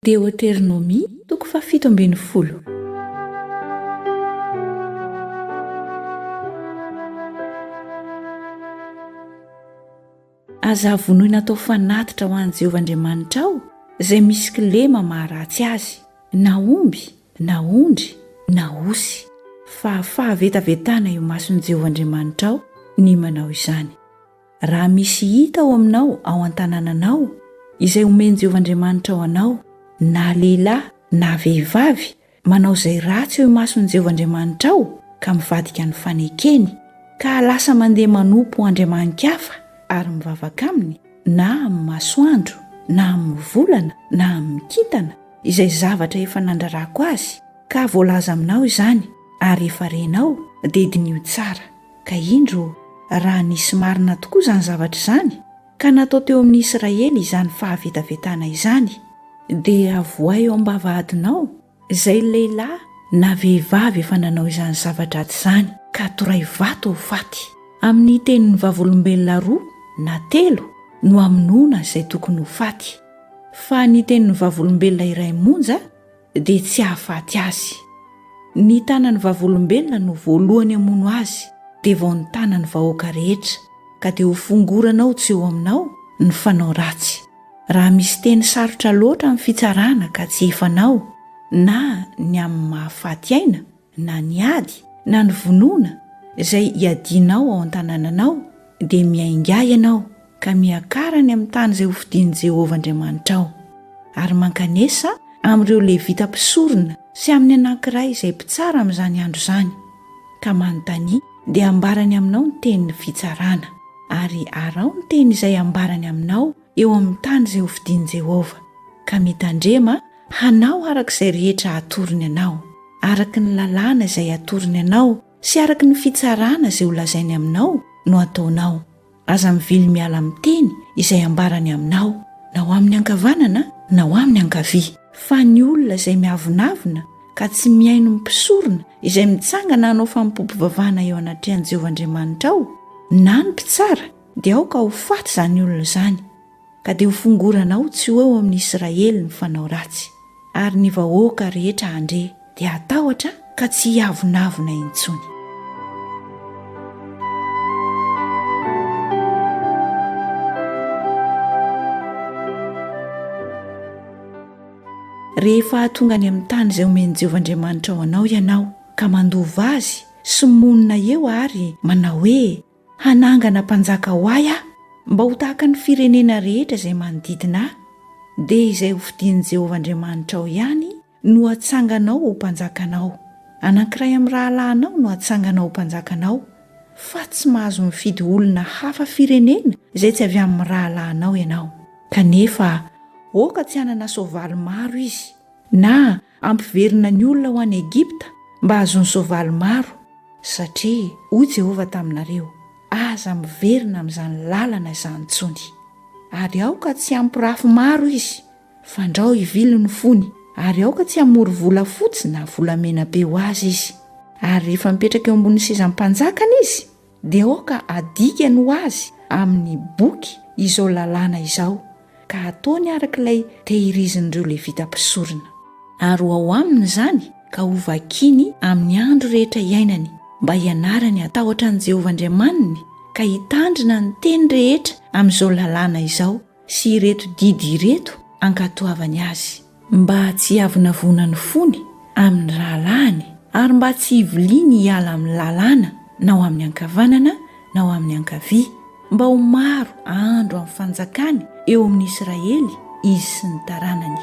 Deoteronomia, toko fahafito ambin'ny folo. Aza havonoina atao fanatitra ho an'i Jehovah Andriamanitrao izay misy kilema maharatsy azy, na omby, na ondry, na osy, fa fahavetavetana eo imason'i Jehovah Andriamanitrao ny manao izany. Raha misy hita ao aminao ao an-tanànanao, izay omen'i Jehovah Andriamanitrao anao, na lehilahy na vehivavy, manao izay ratsy eo imason'i Jehovah Andriamanitrao, ka mivadika ny fanekeny, ka lasa mandeha manompo andriamani-kafa ary mivavaka aminy, na amin'ny masoandro, na amin'ny volana, na amin'ny kintana, izay zavatra efa nandrarako azy, ka voalaza aminao izany, ary efa renao, dia diniho tsara. Ka indro, raha nisy marina tokoa izany zavatra izany, ka natao teo amin'ny Israely izany fahavetavetana izany, dia avohay eo am-bavahadinao izay lehilahy na vehivavy efa nanao izany zava-dratsy izany, ka toray vato ho faty. Amin'ny tenin'ny vavolombelona roa na telo no hamonoana izay tokony ho faty, fa ny tenin'ny vavolombelona iray monja, dia tsy hahafaty azy. Ny tanan'ny Vavolombelona no voalohany hamono azy, dia vao ny tanan'ny vahoaka rehetra, ka dia hofongoranao tsy eo aminao ny fanao ratsy. Raha misy teny sarotra loatra amin'ny fitsarana ka tsy efanao, na ny amin'ny maha faty aina, na ny ady na ny vonoana izay iadianao ao an-tanànanao, dia miaingà ianao ka miakara any amin'ny tany izay hofidian'i Jehovah Andriamanitrao, ary mankanesa amin'ireo Levita mpisorona sy amin'ny anankiray izay mpitsara amin'izany andro izany, ka manontania, dia ambarany aminao ny tenin'ny fitsarana. Ary araho ny teny izay ambarany aminao eo amin'ny tany izay hofidian'i Jehovah, ka mitandrema hanao araka izay rehetra atorony anao, araka ny lalàna izay atorony anao sy araka ny fitsarana izay holazainy aminao no ataonao. Aza mivily miala amin'ny teny izay ambarany aminao, na ho amin'ny ankavanana na ho amin'ny ankavia. Fa ny olona izay miavonavona ka tsy mihaino ny mpisorona izay mitsangana hanao fanompoam-pivavahana eo anatrehan'i Jehovah Andriamanitrao, na ny mpitsara, Dia aoka ho faty izany olona izany, ka dia hofongorana ao tsy ho eo amin'ny Israely ny fanao ratsy, ary ny vahoaka rehetra handre dia hatahotra ka tsy hiavonavona intsony. Rehefa hahatonga any amin'ny tany izay omen'i Jehovah Andriamanitrao anao ianao, ka mandova azy sy monina eo ary manao hoe, Hanangana mpanjaka ho ahy aho, mba ho tahaka ny firenena rehetra izay manodidina ahy, dia izay hofidian'i Jehovah Andriamanitrao ihany no hatsanganao ho mpanjakanao. Anankiray amin'ny rahalahinao no hatsanganao ho mpanjakanao, fa tsy mahazo mifidy olona hafa firenena izay tsy avy amin'ny rahalahinao ianao. Kanefa aoka tsy hanana soavaly maro izy, na Hampiverina ny olona ho any Egypta mba hahazoany soavaly maro, satria hoy Jehovah taminareo, Aza miverina amin'izany lalana izany intsony. Ary aoka tsy hampirafy maro izy, fandrao hivily ny fony, ary aoka tsy hamory volafotsy na volamena be ho azy izy. Ary rehefa mipetraka eo ambonin'ny sezam-panjakany izy, dia aoka adikany ho azy amin'ny boky izao lalàna izao, ka hataony araka ilay tehirizin'ireo Levita mpisorona. Ary ho ao aminy izany, ka hovakiny amin'ny andro rehetra iainany, mba hianarany hatahotra an'i Jehovah Andriamaniny, ka hitandrina ny teny rehetra amin'izao lalàna izao, sy ireto didy ireto ankatoavany azy, mba tsy hiavonavona ny fony amin'ny rahalahiny, ary mba tsy hiviliany hiala amin'ny lalàna na ho amin'ny ankavanana na ho amin'ny ankavia, mba ho maro ahandro amin'ny fanjakany eo amin'ny Israely izy sy ny taranany.